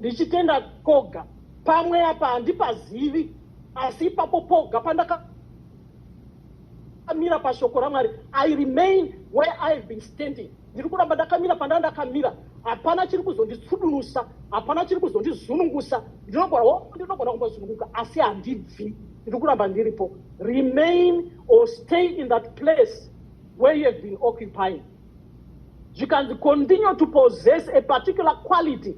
ndichitenda koga pamwe apa handipazivi asi ipapo poga pandaka ndakamira pashoko ramwari i remain where i have been standing ndiri kuramba ndakamira pandaa ndakamira hapana chiri kuzonditsudunusa hapana chiri kuzondizunungusa ndinogona oh, ndinogona kumbozununguka asi handibvi ndiri kuramba ndiripo remain or stay in that place where you have been occupying zvikanzi continue to possess a particular quality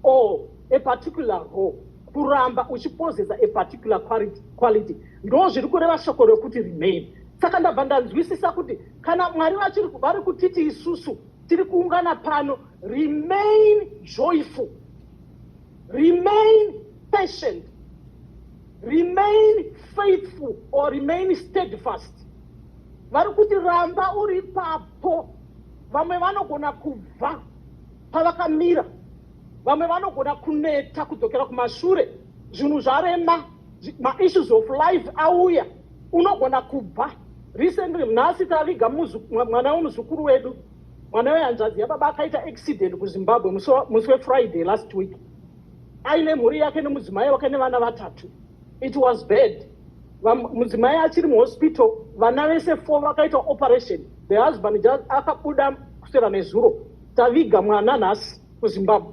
or a particular role kuramba uchipossesa a particular quality ndo zviri kureva shoko rekuti remain saka ndabva ndanzwisisa kuti kana mwari vachiri vari kutiti isusu tiri kuungana pano remain joyful Remain patient. Remain faithful or remain steadfast. Vari kuti ramba uri papo. Vamwe vanogona kubva pavakamira. Vamwe vanogona kuneta kudzokera kumashure. Zvinhu zvarema, maissues of life auya. Unogona kubva. Recently, nhasi taviga mwana wemuzukuru wedu. mwana wehanzvadzi yababa akaita accident kuzimbabwe musi wefriday last week aine mhuri yake nemudzimai wake nevana vatatu it was bad mudzimai achiri muhospital vana vese four vakaita operation the husband just akabuda kusera nezuro taviga mwana nhasi kuzimbabwe